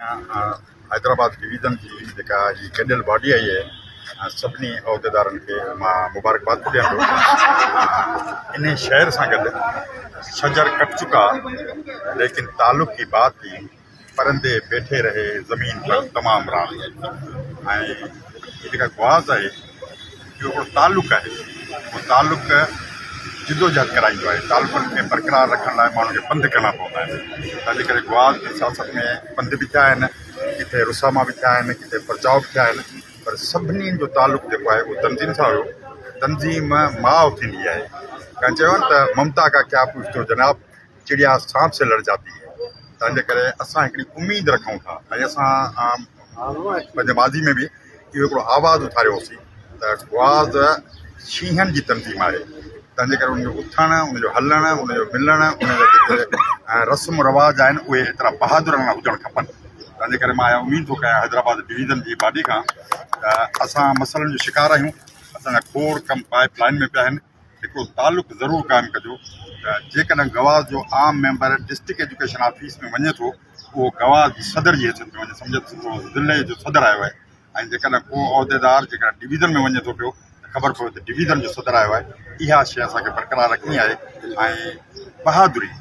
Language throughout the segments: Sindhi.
حيدرآباد ڊويزن جي جيڪا هي گڏيل باڊي آئي آهي سڀني عهديدارن کي مان مبارڪباد به ڏيان ٿو انهي شهر سان گڏ شجر ڪٽ چڪا ليڪن تعلق ڪي بات ٿي پرندي بيٺي رهي زمين پر تمام رات ۽ جيڪا گواز آهي جو هڪڙو تعلق آهي اهو تعلق جدوجهد ڪرائيندو آهي تعلقن کي برقرار رکڻ لاء ماڻهن کي پنڌ ڪرڻا پوندا آهن تنهنجي ڪري گوادر جي سياست ۾ پنڌ به ٿيا آهن ڪٿي رساما به ٿيا آهن ڪٿي پرچاء به ٿيا آهن پر سڀني جو تعلق جيڪو آهي اهو تنظيم سان هيو تنظيم ماء ٿيندي آهي ڪنهن چيو آهي نه ته ممتا ڪا ڪيا پوڇتو جناب چڙيا سانپ سي لڙ جاتي هي تنهن جي ڪري اسان هڪڙي اميد رکون ٿا ۽ اسان پنهنجي ماضي ۾ به اهو هڪڙو آواز اٿاريو هوسين ته گواز شينهن جي تنظيم آهي تنهن جي ڪري ان جو اٿڻ ان جو هلڻ ان جو ملڻ ان جا جيڪي رسم رواج آهن اهي ايترا بهادر نه هجڻ کپن تنهن جي ڪري مان اها اميد ٿو ڪيان حيدرآباد ڊويزن جي باڊي کان ته اسان مسئلن جو شڪار آهيون اسان جا کوڙ ڪم پائپ لائن ۾ پيا آهن هڪڙو تعلق ضرور قائم ڪجو ته جيڪڏهن گواز جو عام ميمبر ڊسٽرڪٽ ايجوڪيشن آفيس ۾ وڃي ٿو اهو گواز جي صدر جي حيثيت ۾ وڃي سمجهي ته سندو ضلعي جو صدر آيو آهي ۽ جيڪڏهن ڪو عهديدار جيڪڏهن ڊويزن ۾ وڃي ٿو پيو ته خبر پوي ته ڊويزن جو صدر آيو آهي اها شيء اسان کي برقرار رکڻي آهي ۽ بهادري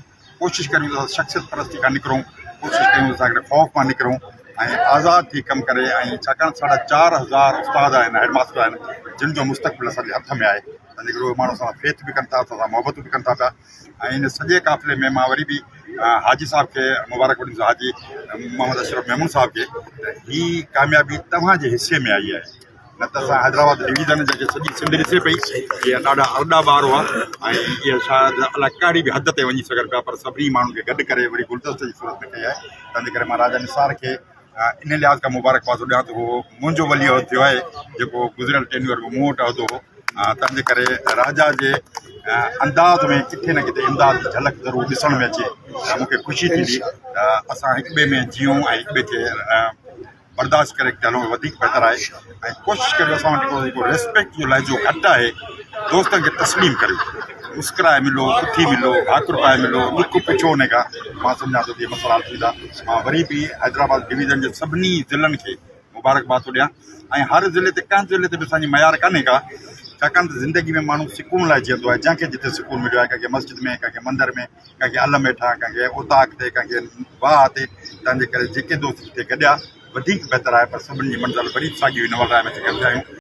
ڪوشش ڪريون ته شخصيت پرستي کان نڪرون، ڪوشش ڪريون ته ساڳئي خوف مان نڪرون ۽ آزاد ٿي ڪم ڪري ۽ ڇاڪاڻ ساڍا چار هزار استاد آهن، هيڊ ماستر آهن جن جو مستقبل اسان جي هٿ ۾ آهي تنهن ڪري اهي ماڻهو اسان سان فيٿ به ڪن ٿا، اسان سان محبتون به ڪن ٿا پيا ۽ ان سڄي قافلي ۾ مان وري به حاجي صاحب کي مبارڪ وٺندس حاجي محمد اشرف ميمڻ صاحب کي ته هي ڪاميابي توهان جي حصي ۾ آئي آهي. نه ته اسان حيدرآباد ڊويزن جا جي سڄي سنڌ ڏسي پئي جي ڏاڍا ارڏا ٻار هئا ۽ جي شايد الاء ڪهڙي به حد تي وڃي سگهن پيا پر سڀني ماڻهن کي گڏ ڪري وڙي گلدستي جي صورت ۾ ڪئي آهي تنهنجي ڪري مان راجا نثار کي ان لحاظ کان مبارڪباد ڏيان ٿو هو منهنجو ولي عهد ٿيو آهي جيڪو گذريل ٽينيور ۾ مون وٽ عهدو هو تنهنجي ڪري راجا جي انداز ۾ ڪٿي نه ڪٿي امداد جي جھلڪ ضرور ڏسڻ ۾ اچي مونکي خوشي ٿيندي ته اسان هڪ ٻئي ۾ جيئون ۽ هڪ ٻئي کي برداشت ڪري اڳتي هلو وڌيڪ بهتر آهي ۽ ڪوشش ڪريو اسان وٽ جيڪو ريسپيڪٽ جو لهجو گهٽ آهي دوستن کي تسليم ڪريو مسڪرائي ملو سٺي ملو ڀاڪر پائي ملو ڏک پڇو ان کان مان سمجهان ٿو ته مسئلا حل ٿيندا مان وري به حيدرآباد ڊويزن جي سڀني ضلعن کي مبارڪباد ٿو ڏيان ۽ هر ضلعي تي ڪنهن ضلعي تي به اسانجي معيار ڪانهي ڪا ڇاڪاڻ ته زندگي ۾ ماڻهو سڪون لاء جيئندو آهي جنهن کي جتي سڪون مليو آهي ڪنهن کي مسجد ۾ ڪنهن کي مندر ۾ ڪنهن کي علم هيٺان، ڪنهن کي اوطاق تي، ڪنهن کي واهه تي، تنهن جي ڪري جيڪي دوست جتي گڏيا وڌيڪ بهتر آهي، پر سڀني جي منزل وري به ساڳي هئي، نوالراء ۾ سگهيا ٿيا آهيون.